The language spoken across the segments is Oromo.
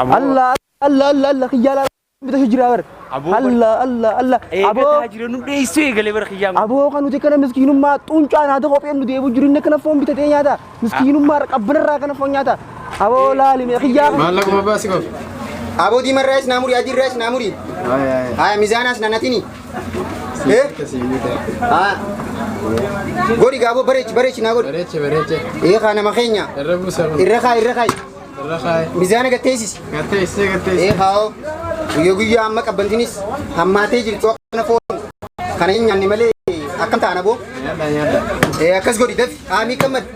Aboo. Allah Allah Allah Allah kiyyaa laa bita shi jira bar. Aboo bar- Allah Allah Allah aboo Eegataa jira nu dheessuu eegalee bara kiyyaa. aboo kan nuti kana miskiinummaa xuuncaa naata kopheen nu deebu jiru inni kana foon bitatee nyaata miskiinummaa qabbanarraa kana foon nyaata aboo laali mee kiyyaa kana. Maallaquma baasi qofa. Aboo diimarraayis naamurii adiirraayis naamurii. Haya mizaanaas nanatini. Eh? Ah. Godhi gaaboo bareechi bareechi naa godhi. Bareeche bareeche. Ee kaa nama keenya. Irra buusa kun. Irra kaa irra kaa. Irra kaaye. Mizaana gatteessisi. Gattee isee gattee Ee isee. kaa'oo guyyaa guyyaa amma qabbantinis hammaatee jirtu akkana foon kana hin nyaanne malee akkam taana boo Nyaadha nyaadha. Ee, akkas godhi dafi haamii gammad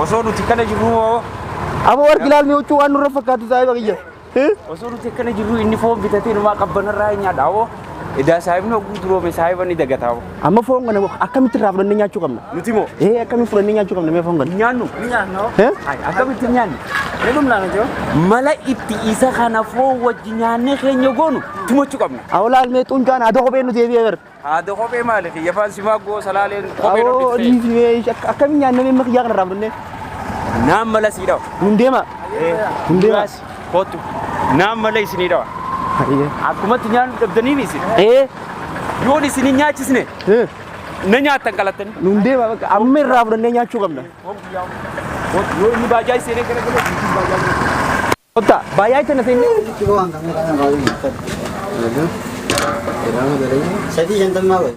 Osoo nuti kana jirru moo Abo war bilal mi uchu anu rafakatu sai bagiyya. osoo nuti akkana jirru inni foon bitatee numaa qabbanarraa hin nyaadha hoo Edaa saahibni hogguu duroome saahiba ni dagataa. Amma foon kana akkamitti irraa fudhannee nyaachuu qabna? Nuti moo? Ee akkamitti fudhannee nyaachuu qabna mee foon kana? Nyaannu. Hee? Akkamitti nyaannu? Mala itti isa kana foon wajji nyaannee keenya goonu tumachuu qabna. Awlaal mee xuncaan haadha kophee nu deebi'ee bar. Haadha kophee maali fi yafaan simaa goo salaaleen kophee Awoo dhoofte. dhiisi mee akka- akkamiin nyaannee mee makiyyaa kana irraa fudhannee? Naan mala sii dhawa. Nun deema. Nun deema. Muraasi. Kootu naan malee isinii dhawa. Akkumatti nyaannu dhabdanii mi isin? Ee. Yoon isin hin nyaachisne. Na nyaattan qalattanii. Nuun deema bakka amma irraa fudhannee nyaachuu qabna. Yoo inni baajaa iseenee gara galee isin baajaa iseenee. Kotta baajaa iseenee seenne. Sadii shantammaa godhe.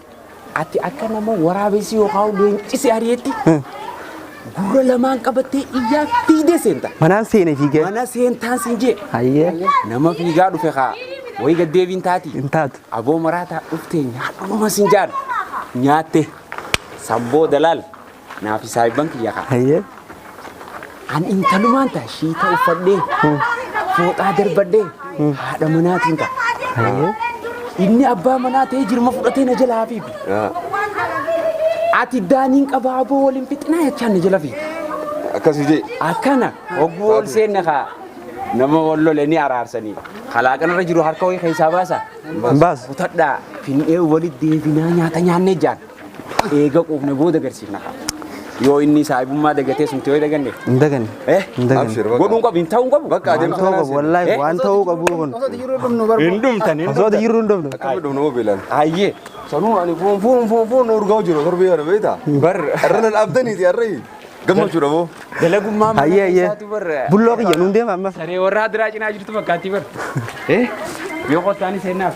Ati akka nama waraabessi yookaan leenci si ari'etti gurra lamaan qabattee iyyaa fiigdee seenta. Manaan seene fiigee. Mana seentaan sin jee. Hayyee. Nama fiigaa dhufe kaa wayi gad deebiin taati. Hin taatu. Aboo maraataa dhuftee nyaadhuma sin jaan. Nyaatte. San booda laal. Naa fi saahibban kiyya kaa. Hayyee. An intalumaan ta'a shiita uffadhee fooxaa darbadhee haadha manaatiin ta'a. Hayyee. Inni abbaa manaa ta'ee jirma fudhatee na jala hafiifi. Ati daaniin qabaa aboo waliin fixinaa jechaan na jala fiiti. Akkasii jee. Akkana hogguu ol seenna kaa nama wal lole ni araarsanii. Kalaaqan irra jiru harka wayii keessaa baasa. Baas. Kutadhaa finnee walitti deebinaa nyaata nyaannee jaan. Eega quufne booda garsiifna kaa. Yoo inni saahibummaa dagatee sumti yoo daganne. Hin daganne. Eh? Hin daganne. Abshir, bakka. Godhuun qabu hin ta'uu qabu. Bakka Waan adeemsa ta'uu kanaa qabu seenaa. wallaahi Eh? waan ta'uu qabu kun. Hin dhumtan hin Osoo jirru hin dhumne. Akka midhuun hoo beelan. Hayyee. Sanuu ani fuun fuun fuun fuun nu urgaa jiru torbee kana beektaa? Bar. Irra nan abdaniiti irra gammachuudha moo? Dalagummaa mana Hayyee hayyee. keessaatu bar. Bulloo kiyya nuun deema amma. Saree warra adiraa cinaa jirtu fakkaatti bar. Eh? Yoo qottaani seennaaf.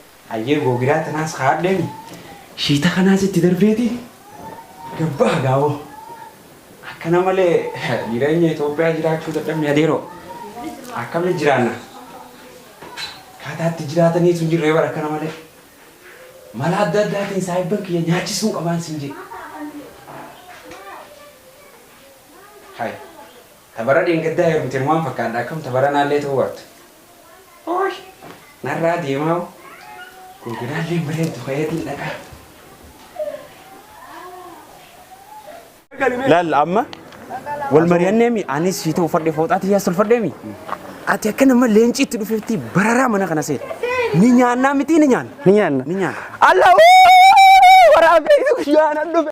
Hayyee googiraa tanaas kaadheeni shiita kanaas itti darbeeti gad baha gaawoo. Akkana malee jireenya Itoophiyaa jiraachuu dadhabne adeeroo. Akkami jiraanna? Akkaataa itti jiraataniis hin jirree bara akkana malee. Mala adda addaatiin saahibban kiyya nyaachisuun qabaan siin jedhe. Hay. Tabara dheengaddaa heerumte maal fakkaadha akkam tabaranaallee ta'uu baattu. Oosh narraa deemaa hoo googinaalleen bareeddu kayeetiin dhaqaa. Laal amma wal mari'anneemi anis sii ta'u fadhe fooxaa tiyyaa solfadheemi. Ati akka nama leenci itti dhufeetti bararaa mana kana seeta. Ni nyaannaa mitii ni nyaanna. Ni nyaanna. Ni nyaanna. Alla wuu waraabee guyyaan an dhufe.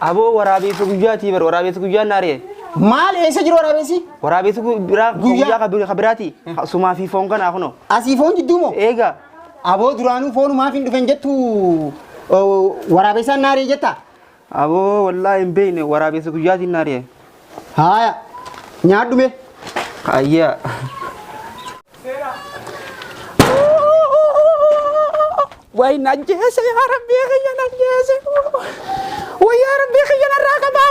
Aboo waraabeessa guyyaatii bar waraabeessa guyyaan naari'e. Maal eessa jiru waraabessi? Waraabeessa gu- biraa Guyyaa. guyyaa ka bir- ka biraati. Ka- Sumaa fi foon kanaa kunoo. Asii foon jidduu moo? Eegaa Aboo duraanuu foonu maaf hin dhufen jettu oo, waraabessaan naaree jetta? aboo wallaahi hin beekne waraabeessa guyyaatiin naari'e. Haaya. Nyaadhu mee. Ayyaa. Way nan jeese yaa rabbii kiyya nan jeese. Way yaa rabbii kiyya narraa qabaa.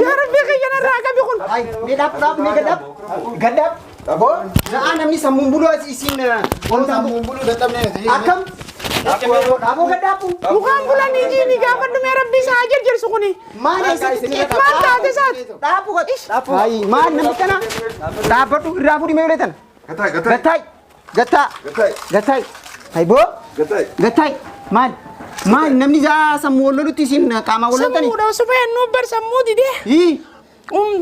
Yaa rabbii kiyya narraa qabi kun. Mee dhaab dhaab mee gadaab. Gadaab. Aboo na'aa namni sammuun buluu as isiin Kun sammuun buluu dadhabnee nuti. akkam aboo gadhaabu Mukaan bulanii jiini gaafa dhumee rabbi isaa haa jirjirsu kuni. maal eessatti xiqqeetu Maal taate isaati? dhaabu godhi Ayi, maal namni kana dhaabbadhu irraa fuudhi mee ulee tana Gataa gataa gattaay gattaa gataa gattaay hayboo gataa. gattaay maal maal namni isaa sammuu wal lolutti isiin qaamaa wal loltanii Sammuudha osoo fayyannuu bar sammuu didee. Hii.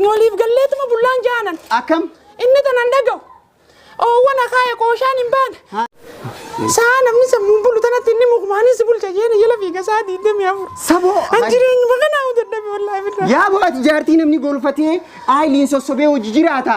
Waliif galleetuma bullaan jaanan. Akkam? Inni tanan dhagahu. Oowwan akaaya qooshaan hin baane. Sa'a namni sammuun bulu tanatti inni mukmaanii si bulcha jeeni jala fiiga sa'a diidamii afur. Saboo. An jireenyuma kanaa hojjedhame wallaahi birraa. Yaa bo'ati jaartii namni golfatee aayiliin sossobee hojii jiraata.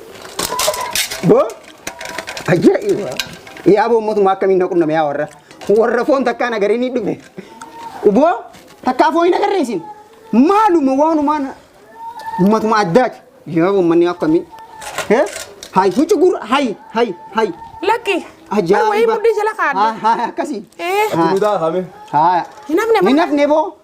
Boo ajaa'iba. Yaa boo mootummaa akkamiin na qunname yaa warra. Warra foon takkaa nagaree ni dhufe. Boo takkaa foon hin agarree isin. Maaluma waanumaan ummatuma addaati. Yaa boo manni akkamiin. Hee? Hayi huccu gurra hayi hayi hayi. Lakki. Ajaa'iba. Wayii mudhii jala kaadde. Haa haa akkasii. Ee. Haa. Duudaa hame. Haa. Hin hafne Hin hafne boo.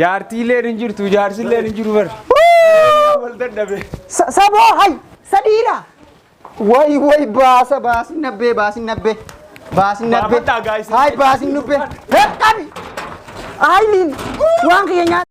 Jaartiilleen hin jirtu jaarsilleen hin jiru bar. Wal dadhabe. Sa- Saboo hay sadiira. Way way baasa baasin nabbee baasin nabbee. Baasin nabbee. Baafadhaa, guys. Hay baasin nubbee. Qabi. Ayiliin waan kiyya nyaata.